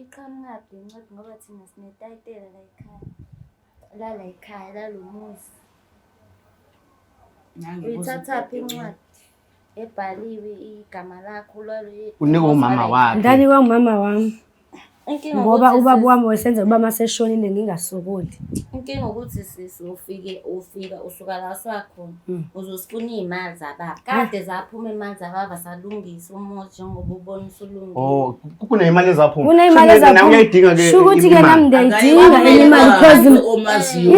Iqhamukaphi le ncwadi ngoba thina sinetayitela la ekhaya. La la ekhaya la lo muzi. Uyithathaphi incwadi ebhaliwe igama lakho lwalo. Unikwe umama wakhe. Ngani kwa umama wami. ngoba ubaba wami wesenzela uba maseshonile ngingasokoli inkinga ukuthi sisi ufike ufika usuka la sakhona hmm. uzosifuna iy'mali zababa kade zaphuma imali zababa salungisa Oh, kuneimali ezaphuma. Kuneimali ezaphuma. Uyayidinga ke. Sho ukuthi ke nami ndiyayidinga imali because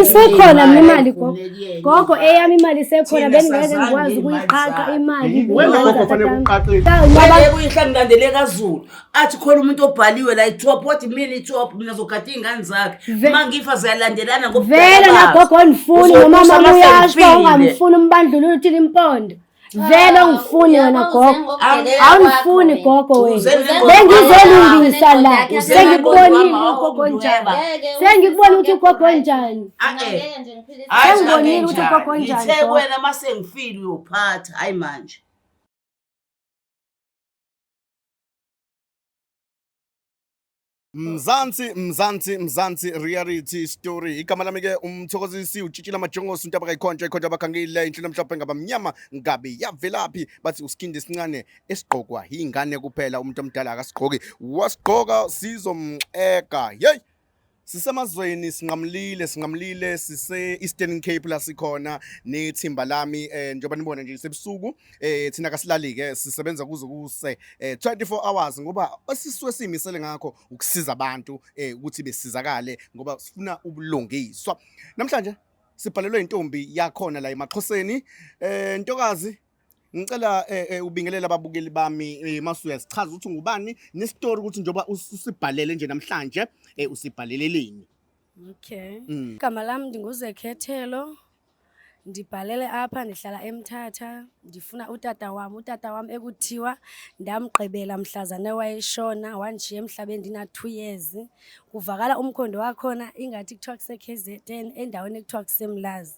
isekhona mina imali gogo. Gogo eyami imali isekhona bengingeke ngikwazi ukuyiqaqa imali. Wena gogo fanele uqaqe. Yebo uyihlangilandele kaZulu. Athi khona umuntu obhaliwe la itop what mean itop mina zogada ingane zakhe. Mangifa ziyalandelana ngobheka. Vele la gogo onifuni nomama uyasho ungamfuni umbandlulula uthini impondo. vele ungifuni wena gogo awungifuni gogo wena bengizolungisa la sengikubonile ugogo njani sengikubona ukuthi ugogo njani sengibonile ukuthi ugogo njani ngithe wena uma sengifile uyophatha hayi manje Mzansi Mzansi Mzansi reality story igama lami ke umthokozisi utshitshile amajongosi into abakayikhontsha ikhontsha abakhangile inhlelo mhlophe ngabamnyama ngabe yavelaphi bathi usikhindi esincane esigqokwa yingane kuphela umuntu omdala akasigqoki wasigqoka sizomxeka yeyi sisemazweni sinqamlile sinqamlile sise-eastern cape la sikhona nethimba lami um njengoba nibona nje sebusuku eh thina kasilali ke sisebenza kuze kuse eh, 24 hours ngoba esisuke simisele ngakho ukusiza abantu eh ukuthi besizakale ngoba sifuna ubulungiswa namhlanje sibhalelwe intombi yakhona la emaxhoseni eh ntokazi ngicela eh, eh, ubingelela ababukeli bami eh, masuya sichaza ukuthi ngubani nestory ukuthi njoba usibhalele nje namhlanje eh, usibhaleleleni Okay. Mm. Igama lam ndinguzekhethelo ndibhalele apha ndihlala emthatha ndifuna utata wam utata wam ekuthiwa ndamgqibela mhlazane wayeshona wandishiya emhlabeni ndina-two years kuvakala umkhondo wakhona ingathi kuthiwa kuse-k z n endaweni ekuthiwa kusemlazi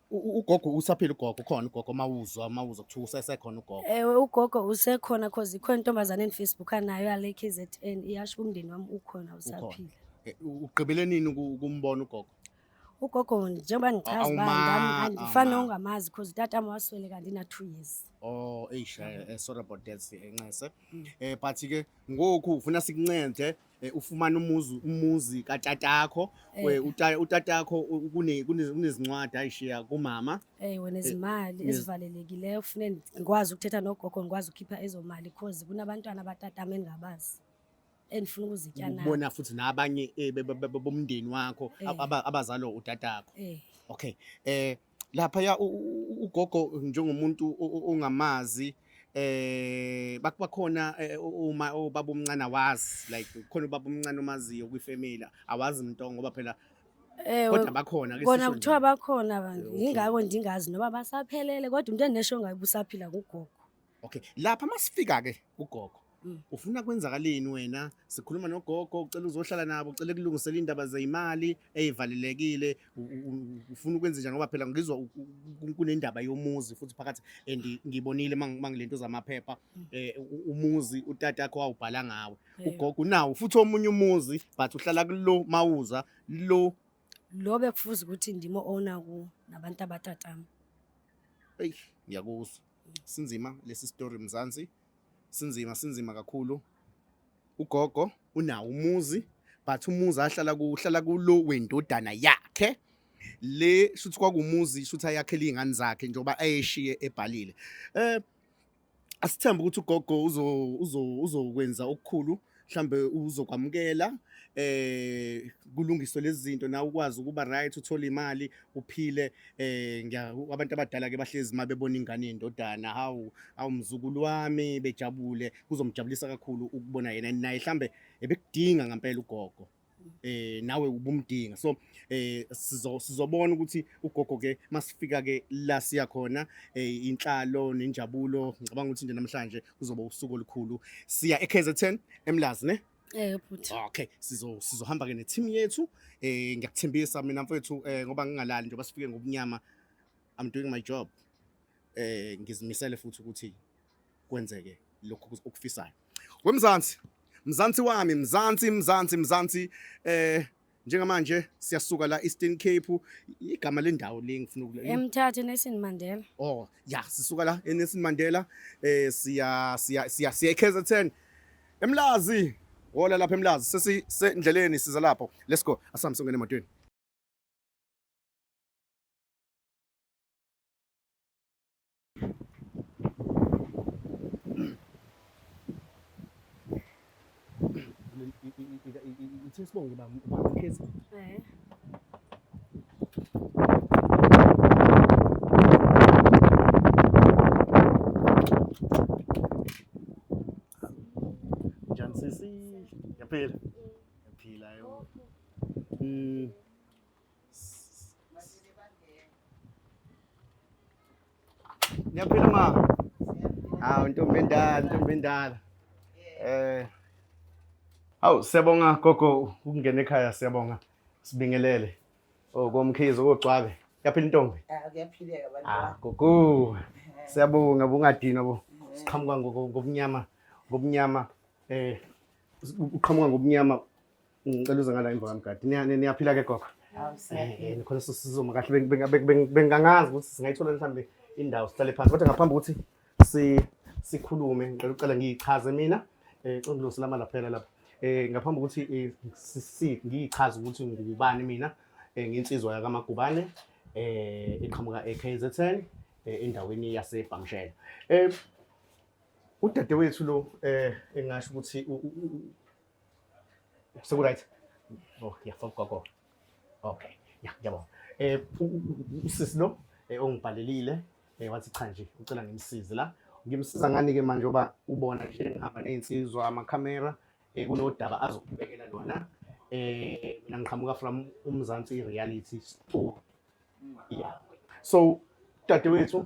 ugogo usaphila ugogo khona ugogo mawuzwa mawuzwa kuthiwa usesekhona ugogo ewe ugogo usekhona cause ikhona intombazane enifacebook anayo yale KZN iyasho umndeni wami ukhona usaphila eh, ugqibele nini ukumbona ugogo ugogo njengoba ngichaza uba ngifana nongamazi cause utata wami waswele kanti na-two years oh eish eh, eh, sorry about that nxese um but-ke ngoku ufuna sikuncede eh, ufumana umuzi umuzi katatakho Eh. we- uta- utatakho u- kune- kune- kunezincwadi ayishiya kumama Eh wena izimali yes. ezivalelekileyo kufanele ngikwazi ukuthetha nogogo ngikwazi ukukhipha ezomali because kunabantwana abatatama engingabazi endifuna ukuzitya nabo. ubona futhi nabanye eh, be- be- be- bomndeni wakho Eh. ab- aba- abazalo utatakho Eh okay eh laphaya ugogo njengomuntu ongamazi eh bakhona eh, uma ubaba omncane awazi like khona ubaba omncane omaziyo kwifamily awazi umuntu ngoba phela eh, kodwa bakhona ke kona kuthiwa bakhona abantu yingakho ndingazi noba basaphelele kodwa umuntu enesho ngabe usaphila kugogo Okay, lapha masifika ke ugogo. Mm. Ufuna kwenzakaleni wena? Sikhuluma nogogo, ucela uzohlala nabo, ucela kulungisela indaba zeimali ezivalelekile, u- u- u- ufuna ukwenza njani ngoba phela ngizwa u- u- kunendaba yomuzi futhi phakathi and ngibonile mang- mangilento zamaphepha Mm. eh u- umuzi utata wakho wawubhala ngawe. Eh, Ugogo unawo futhi omunye umuzi but uhlala kulo mawuza lo Lo bekufuza ukuthi ndimo owner ku nabantu abatatami. eyi ngiyakuzwa. sinzima lesi story mzansi sinzima sinzima kakhulu ugogo unawo umuzi but umuzi ahlala kuhlala kulo wendodana yakhe le shuthi kwakumuzi shuthi ayakhele izingane zakhe njengoba ayeshiye ebhalile eh asithembe ukuthi ugogo uzokwenza okukhulu mhlambe uzokwamukela eh kulungiswe lezi zinto na ukwazi ukuba right uthole imali uphile eh abantu abadala ke bahlezi mabebona ingane yendodana hawu awumzukulu wami bejabule kuzomjabulisa kakhulu ukubona yena naye mhlambe ebekudinga ngempela ugogo eh nawe ubumdinga so eh sizo sizobona ukuthi ugogo ke masifika ke la siya khona eh inhlalo nenjabulo ngicabanga ukuthi nje namhlanje kuzoba usuku olukhulu siya eKZN eMlazi ne Eh bhuti. Okay, sizo sizohamba ke ne team yethu. Eh ngiyakuthembisa mina mfethu eh ngoba ngingalali njengoba sifike ngobunyama I'm doing my job. Eh ngizimisele futhi ukuthi kwenzeke lokhu okufisayo wemzansi mzansi wami mzansi mzansi mzansi eh njengamanje siyasuka la Eastern Cape igama lendawo le ngifuna ukule emthathe Nelson Mandela oh ya sisuka la eNelson Mandela eh siya siya siya siya KZN emlazi wola lapha emlazi sesi sendleleni siza lapho let's go asambe songene emotweni Ngithe sibonge baba mkhezi. Eh. Njani sisi? Yaphila. Yaphila yo. Mm. Niyaphila ma. Hawu ntombi endala, ntombi endala. Eh. Hawu siyabonga gogo ukungena ekhaya siyabonga. Sibingelele. Oh komkhizo kogcwabe. Yaphila intombi. Ah kuyaphileka bantu. Ah gogo. Siyabonga bungadinwa bo. Siqhamuka ngokunyama ngokunyama eh uqhamuka ngokunyama Ngicela uze ngala emva kamgadi. Niyaphila ke gogo. Eh, khona sisizoma kahle bengangazi ukuthi singayithola mhlawumbe indawo sihlale phansi kodwa ngaphambi ukuthi sikhulume ngicela ucela ngiyichaze mina um congilosela ama laphela lapha um ngaphambi ukuthi eh, ngiyichaze ukuthi ngubani mina um nginsizwa yakamagubane um iqhamuka e-k z ten endaweni yasebhamshela um udadewethu lo um engasho ukuthi Sekuright. Oh, yeah, for gogo. Okay. Yeah, ngiyabonga. Eh usisi lo eh, ongibhalelile eh wathi cha nje ucela ngimsize la. Ngimsiza ngani ke manje oba ubona nje ngihamba nezinsizwa ama camera eh kunodaba azokubekela lona. Eh mina ngiqhamuka from uMzansi reality. Yeah. So dadewethu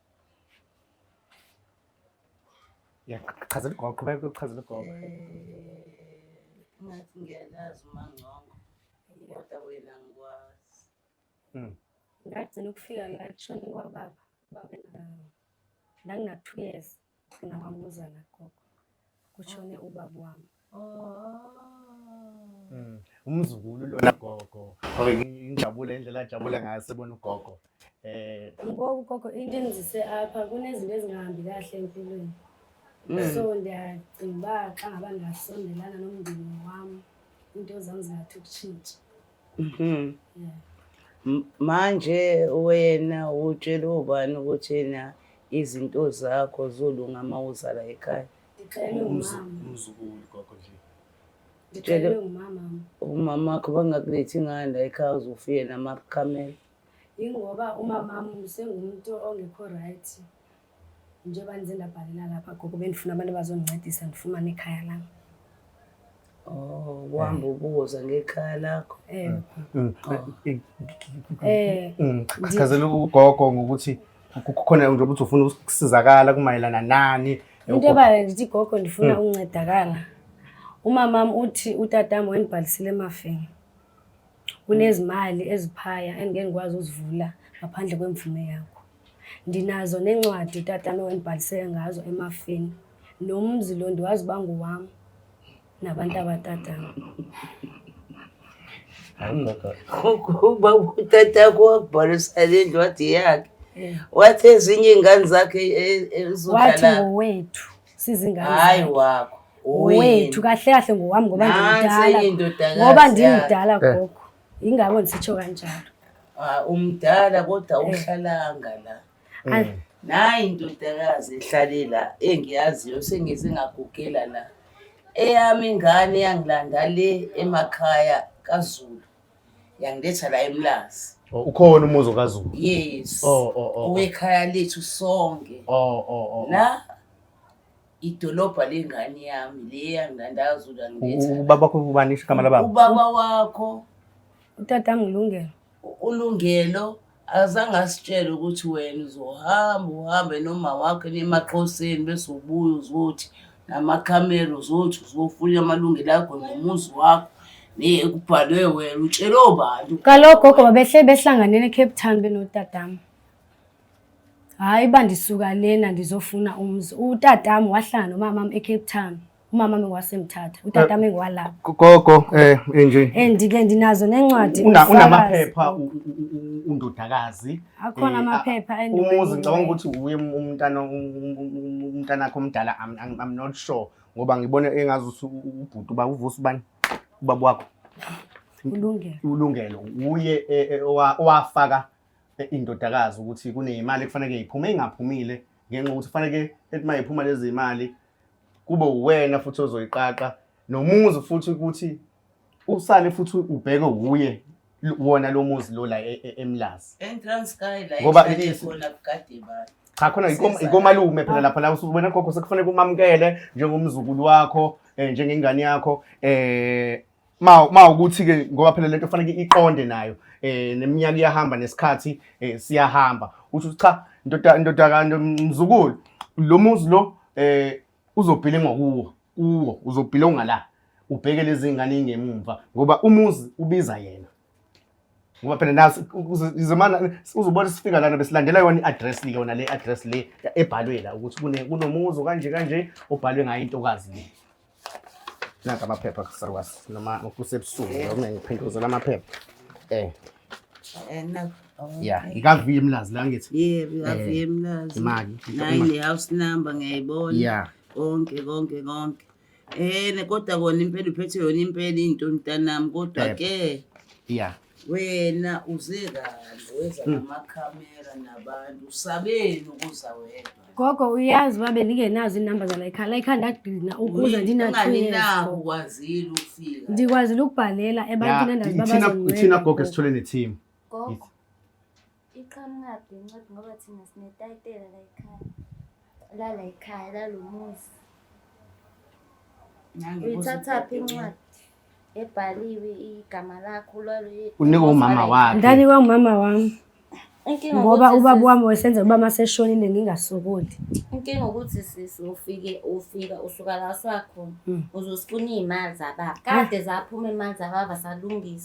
Yaqhazela igogo, qhubeka ukuchazela igogo. Ngathi ngiyalazi umangcongo kodwa wena ngikwazi. Mm. Ngagcina ukufika la kushone kwababa. Baba na- Nganginathu years. Ngamamuzana gogo. Kushone ubaba wami. Mm. Umzukulu lona gogo. Okay, ngijabule indlela ajabule ngayo sebona ugogo. Eh ngoku gogo into engizise apha kunezinto ezingahambi kahle empilweni. Mm. So ndiyacinga uba xa ngaba ndingasondelana nomndeni wam into zam zingathi ukutshintsha. Mhm. M- Manje wena utshele ubani ukuthi yena izinto zakho zolunga uma uza la ekhaya? Ndixelelwe umama. umzukulu gogo nje Ndixelelwe umama. Umama wakho bangakulethi ngani la ekhaya uzofike namakhamera. Yingoba umamam usengumntu ongekho right. Njengoba nize nabhalela lapha gogo bendifuna abantu abazondincedisa ndifumane ikhaya lam. Oh, uhamba ubuza ngekhaya lakho. Eh. Mm. Eh. Mm. Chazela ugogo ngokuthi kukhona nje ukuthi ufuna ukusizakala kumayelana nani. Into ebale ndithi gogo ndifuna mm. ukuncedakala. Umamam uthi utatam wendibhalisile emafeni. Kunezimali eziphaya engike ngikwazi ukuzivula ngaphandle kwemvume yakho. Ndinazo neencwadi utatana owangibhalisela ngazo emafini. Nomzi lo ndiwazi uba ngowam nabantu abatatana. Hayi ndoda. Uba utata wakho wakubhalisa le ncwadi yakhe. Wathi ezinye iingane zakhe e- e- wathi zizodlala ngowethu sizingane hayi wakho wethu kahle kahle ngowami ngoba ndimdala ngoba ndimdala eh. gogo yingako ndisitsho kanjalo ah, umdala kodwa eh. uhlalanga la hmm. nayi indodakazi ehlale la engiyaziyo sengize ngagugela la eyami ingane yangilanda le emakhaya kazulu yangiletha la emlazi oh, ukhona umuzi okazulu yes oh, oh, oh, oh. owekhaya lethu sonke oh, oh, oh, oh. la idolobha lengane yami le yanginandazula ubaba wakho ubani igama lababa ubaba wakho utata ngilungelo ulungelo azange asitshele ukuthi wena uzohamba uhambe noma wakhe nemaqhoseni bese ubuye uzothi namakhamera uzothi uzofuna amalungelo akho nomuzi wakho kubhalwe wena utshele obantu kaloku gogo babehle behlanganele ecape town benotadama hhayi uba ndisuka lena ndizofuna umzi utatami wahlala nomamam ecape town umama mi wasemthatha utata mi ngwalapha gogo eh enje eh, ndike ndinazo nencwadi unamaphepha undodakazi akhona eh, amaphepha umuzi ngicabanga ukuthi uye umntana umntana wakho omdala i'm not sure ngoba ngibona engazi ukuthi ubhuti uba uvusa ubani ubaba wakho ulungelo ulungelo uye e, e, owafaka e, indodakazi ukuthi kuneyimali kufanele iphume ingaphumile ngenxa ukuthi kufanele ethi mayiphuma lezi imali kube uwena futhi ozoyiqaqa nomuzi futhi ukuthi usale futhi ubheke wuye wona lo muzi lo la e, e, emlazi eTranskei la ngoba khona kugade abantu cha khona ikomalume phela lapha la usubona gogo sekufanele kumamukele njengomzukulu wakho eh, njengengane yakho eh ma ma ukuthi ke ngoba phela lento fanele iqonde nayo eh neminyaka iyahamba nesikhathi eh siyahamba uthi cha ndoda ndoda kanti mzukulu lo muzi lo eh uzobhile ngokuwo kuwo uzobhile ungala ubheke lezi ngane ingemumva ngoba umuzi ubiza yena ngoba phela naso izomana uzobona sifika lana besilandela yona i-address le yona le address le ebhalwe la ukuthi kunomuzi kanje kanje obhalwe ngayo intokazi le Naka amaphepha kusakwazi noma kusebusuku eh. noma ngiphinduzela amaphepha. Eh. Eh no. Yeah, ngikavuye emlazi la ngithi. Yebo, ngikavuye eh, emlazi. Imali. Nayi ne house number ngiyayibona. Yeah. Konke konke konke. Eh kodwa kona impela uphethe yona impela into mntanami kodwa ke. Yeah. wena uze kanje weza hmm. namakhamera nabantu usabeni ukuza wedwa gogo uyazi uba bendingenazo iinamba zalayikhaya layikhaya ndagcina ukuze ndinathuyezinaho ukwazile ukufika ndikwazile ukubhalela ebantwini endazi babazonithina gogo esithole nethimu Iqhamukaphi le ncwadi ngoba thina sinetayitela la ekhaya. Lala ekhaya lalo muzi. Uyithathaphi incwadi ebhaliwe igama lakho lwalo. Unikwe umama wakhe. Ndanikwe umama wami. ngoba ubaba wami wesenzela uba maseshonile ngingasokoli inkinga ukuthi sisi ufike ufika usuka la siwakhona hmm. uzosifuna iy'mali zababa kade zaphuma imali zababa salungisa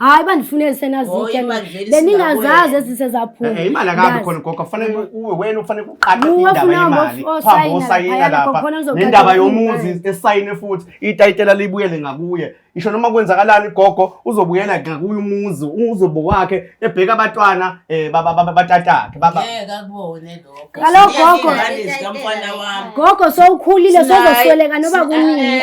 hayi bandifunele senazitya beningazazi ezise zaphuma imali akabi khona gogo kufanele uwe wena ufanele kuqaqe indaba yemali phambi osayina lapha nendaba yomuzi esayine futhi itayitela libuyele ngakuye isho noma kwenzakalani gogo uzobuyela ngakuye umuzi uzobo wakhe ebheka abatwana eh batatakhe baba kaloku gogo gogo sowukhulile sozosweleka noba kunini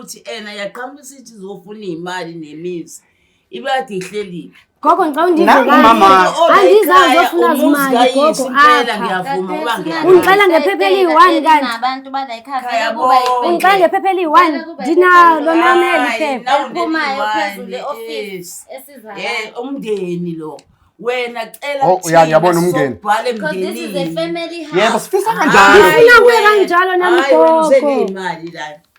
ukuthi ena yaqhamuka isithi izofuna iy'mali nemizi ibekade ihlelile gogo ngicela undivungaungixela ngephepha eliyi-one kantiungixela ngephepha eliyi-one ndinalo naneli phephaumndeni lo wena cela oh, uyabona umngeni yebo sifisa kanjalo kanjalo nami gogo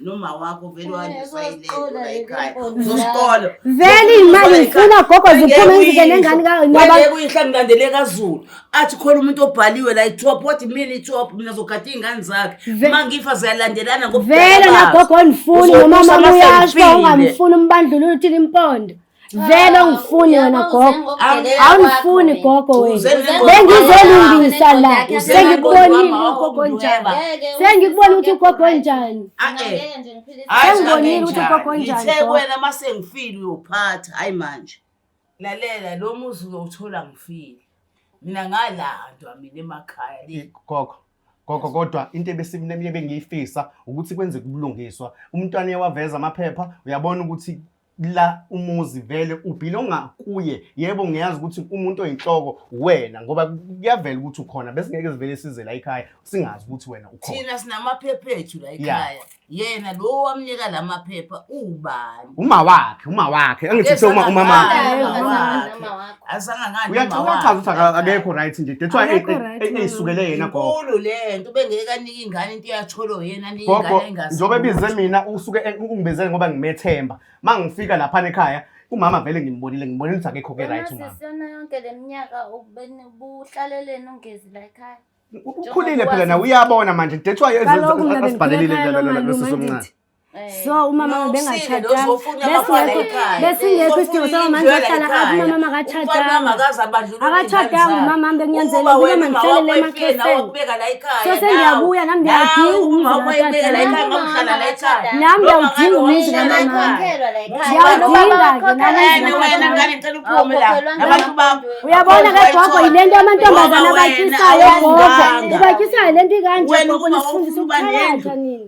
nomawakho vele wayisayilelula ekhaya uzosikolo vele imali ngifuna gogo ziphume izinto nengane kayo ngoba kuyihla ngilandele kazulu athi khona umuntu obhaliwe la itop what mean itop mina zogada ingane zakhe uma ngifa ziyalandelana ngobuvela vele nagogo ondifuni nomama uyasho ungamfuni umbandlulula uthini impondo vele ungifuni wena gogo awungifuni gogo wena bengizolungisa la sengikubonile ugogo njani sengikubona ukuthi ugogo njani sengibonile ukuthi ugogo njani wena uma sengifile uyophatha hayi manje lalela lo muzi uyowuthola ngifile mina ngalandwa mina emakhaya le gogo gogo kodwa into ebesiminemiye bengiyifisa ukuthi kwenzeke ubulungiswa umntwana uyawaveza amaphepha uyabona ukuthi la umuzi vele ubhilonga kuye yebo ngiyazi ukuthi umuntu oyinhloko wena ngoba kuyavela ukuthi ukhona bese ngeke sivele size la ekhaya singazi ukuthi wena ukhona thina sinamaphepha ethu la ekhaya yena lo wamnika la maphepha ubani uma wakhe uma wakhe angithi uma umama wakhe uyachaza ukuthi akekho right nje that's why eyisukele yena gogo lento bengeke anike ingane into yacholo yena anike ingane engazi njobe bize mina usuke ungibizele ngoba ngimethemba mangifika lapha ekhaya umama vele ngimbonile ngibonile ukuthi akekho ke right umama sisona yonke leminyaka ubeni buhlaleleni ungezi la ekhaya ukhulile phela nawe uyabona manje that's why asibhalelile lelo lelo sisomncane Eh, so umama no, bengatshatanga besingekho isidingo soba manje ohlala apha umama akatshatanga akatshatanga umama bekunyanzeleka uba mandihlalele emaxhoseni so sendiyabuya nam ndiyawudinga umzi nam ndiyawudinga umzi kamama ndiyawudinga ke uyabona ke gogo yile nto amantombazana abatyisayo gogo ubatyisayo le nto ikanje gogo nisifundisa ukuthakatha nini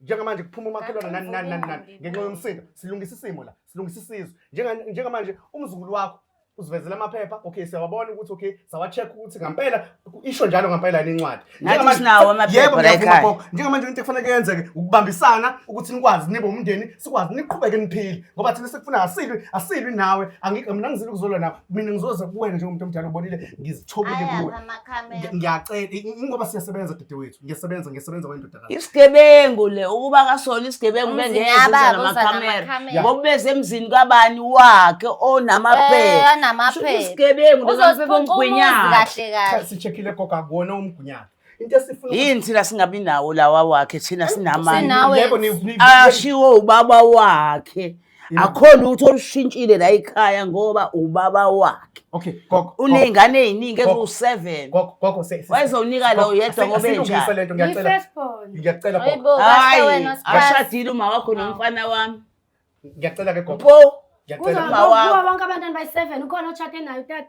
njengamanje kuphuma umakhelwane nani nani nani nani ngenxa yomsindo silungisa isimo la silungisa isizwe Njenga- njengamanje umzukulu wakho uzivezela amaphepha okay siyawabona ukuthi okay sawa-check ukuthi ngampela ku- isho njalo ngampela yini incwadi Nathi Njengamanje- sinawo amaphepha Yebo, la ngiyavuma ekhaya. gogo. njengamanje into ekufanele kuyenzeke ukubambisana ukuthi nikwazi nibe umndeni sikwazi niqhubeke niphile ngoba thina sekufuna asilwi asilwi nawe Angi- mina ngizile ukuzolwa nawe mina ngizoze kuwena njengomuntu omdala ubonile ngizithobile kuwe Ngi- ngiyacela i- ingoba siyasebenza dede wethu ngiyasebenza ngiyasebenza wendoda isigebengu le ukuba kasona isigebengu bengeyeza namakhamera ngoba beze emzini kabani wakhe onamapheisigebengu eh, lezomgwinyakasishekile gogo akuwona umgwinyaka yini thina singabi nawo lawa wakhe thina sinamanyebo ashiwo ubaba wakhe akhona ukuthi olushintshile la ikhaya ngoba ubaba wakhe okay gogo unezingane eziningi eziwu7 gogo gogo wayezowunika lo yedwa ngoba enjalo lento ngiyacela ngiyacela gogo hayi ashadile uma wakho nomfana wami ngiyacela ke gogo ngiyacela uma wakho bonke abantwana bayi7 ukhona ochate nayo tata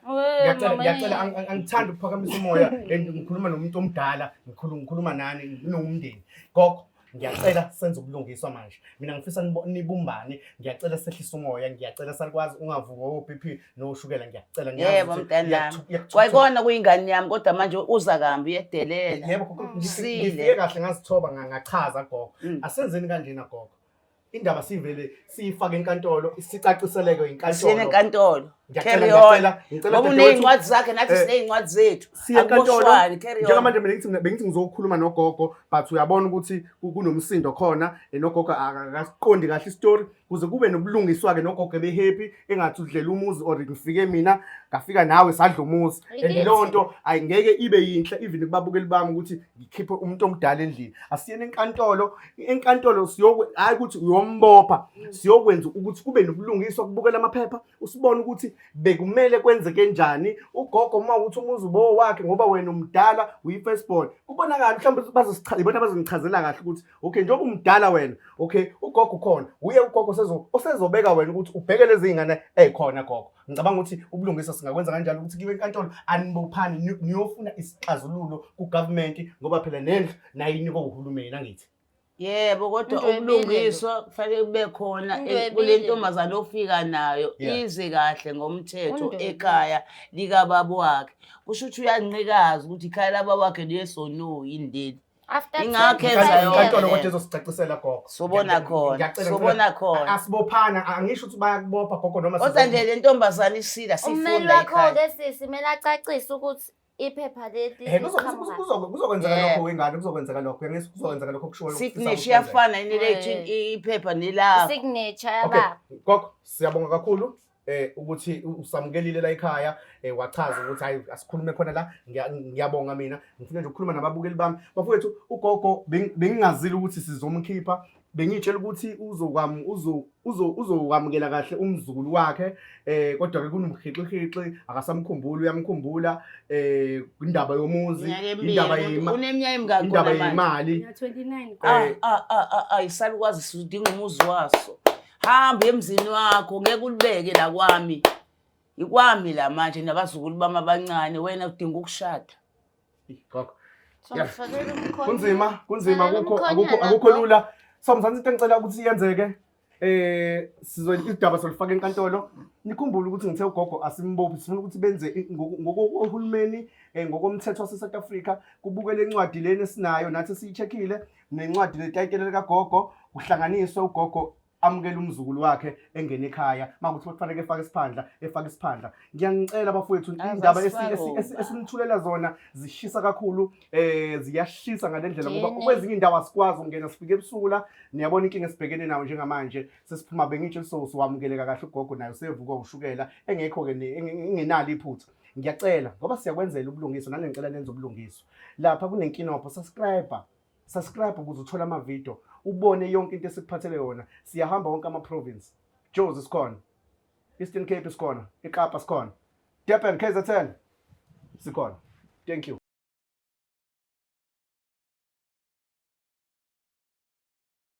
ngiyacela ngiyacela angithanda ukuphakamisa umoya and ngikhuluma nomuntu omdala ngikhuluma nani nginomndeni gogo ngiyacela senze ubulungiswa manje mina ngifisa nibumbane ngiyacela sehlisa umoya ngiyacela salikwazi ungavuki o-b p noshukela ngiyacela yebo mntanami kwayikona kuyingane yami kodwa manje uza kambi uyedelela yebo ngifike kahle ngazithoba ngachaza gogo mm. asenzeni kanjena gogo indaba sivele siyifake enkantolo sicaciseleke Siyene yinkantolo enkantolo. Ngiyacela, Carry on. ngiyacela, ngicela Ngoba dadewethu. unezincwadi zakhe nathi Eh, sinezincwadi zethu. siye enkantolo Akuboshwani, carry on. njengamanje mina ngithi bengithi ngizokhuluma nogogo but uyabona ukuthi ku- kunomsindo khona eh, nogogo akasiqondi kahle isitori kuze kube nobulungiswa-ke nogogo ebehappy engathi udlela umuzi or ngifike mina ngafika nawe sadla umuzi and Ikithi. leyo nto ayingeke ibe yinhle even kubabukeli bami ukuthi ngikhiphe umuntu omdala endlini asiyene enkantolo enkantolo siyokwe hayi ukuthi uyombopha mm. siyokwenza ukuthi kube nobulungiswa kubukela amaphepha usibone ukuthi bekumele kwenzeke njani ugogo uma ukuthi umuzi ubo wakhe ngoba wena umdala uyi-first born kubonakala mhlawumbe bazosichaza ibona bazongichazela kahle ukuthi okay njengoba umdala wena okay ugogo ukhona uye ugogo osezobeka wena ukuthi ubheke lezi ngane ey'khona gogo ngicabanga ukuthi ubulungiswa singakwenza kanjalo ukuthi kiwe enkantolo anibophani niyofuna isixazululo kugovernment ngoba phela nendlu nayo inikwa uhulumeni angithi yebo kodwa ubulungiswa kufanele kube khona e- kule ntombazane ofika nayo ize kahle ngomthetho ekhaya likababa wakhe kusho ukuthi uyanqikaza ukuthi ikhaya lababa wakhe liyesonoyi ndeli After Ingakho 10 enza years. yonke inkantolo kodwa ezosicacisela gogo Sobona Ngiya- khona, ngiyacela, sobona ngicela- khona. A- asibophana angisho ukuthi bayakubopha gogo noma kodwa sizoku- nje le ntombazane isila Umeli sifunda wakho ikhaya ke sisi mele acacise ukuthi iphepha leli Eh, kuzo- liqhamuka. kuzo- kuzo- kuzokwenzeka Yeah. lokho wengane kuzokwenzeka lokho uyangizwa? kuzokwenzeka lokho kushiwo signature iyafana yini lethu Eh. iphepha nelakho signature Okay, yababa gogo siyabonga kakhulu eh ukuthi usamukelile la ekhaya eh wachaza ukuthi hayi asikhulume khona la ngiya- ngiyabonga mina ngifuna nje ukukhuluma nababukeli bami bafowethu ugogo beng- bengingazile ukuthi sizomkhipha bengitshela ukuthi uzokwam uzo uzo uzokwamukela kahle umzukulu wakhe eh kodwa ke kunomhixixixi akasamkhumbuli uyamkhumbula eh indaba yomuzi Minyaka emibili, indaba umuntu yema- uneminyaka emingaki indaba khona manje? yemali Mina 29 Ah, Eh. ah, ah, ah, ah, isalukazi sidinga umuzi waso hamba emzini wakho ngeke ulibeke la kwami ikwami la manje nabazukulu bami abancane wena udinga ukushada gogo Yeah. Somfakela umkhondo. kunzima kunzima Fanele akukho umkhonyovu akukho akukho lapho. lula so mzansi into engicela ukuthi yenzeke eh sizo idaba solifaka enkantolo nikhumbule ukuthi ngithe ugogo asimbophi sifuna ukuthi benze i- ngoku- ngokohulumeni eh, ngokomthetho waseSouth Africa kubukele incwadi lena esinayo nathi siyicheckile nencwadi netayitela likagogo kuhlanganiswe ugogo amukele umzukulu wakhe engene ekhaya makuthi kufanele efake isiphandla efake isiphandla ngiyanicela bafowethu indaba esinithulela zona zishisa kakhulu eh ziyashisa ngalendlela ngoba kwezinye indawo asikwazi ukungena sifike ebusuku la niyabona inkinga esibhekene nawo njengamanje sesiphuma bengitshe lisosi wamukeleka kahle ugogo nayo sevuka ushukela engekho ke ingenalo iphutha ngiyacela ngoba siyakwenzela ubulungiswa nangencela nenza ubulungiswa Lapha kunenkinobho subscriber subscribe ukuze uthole amavidiyo ubone yonke into esikuphathele yona siyahamba wonke ama-province jozi sikhona eastern cape sikhona ikapa sikhona durban kzn sikhona thank you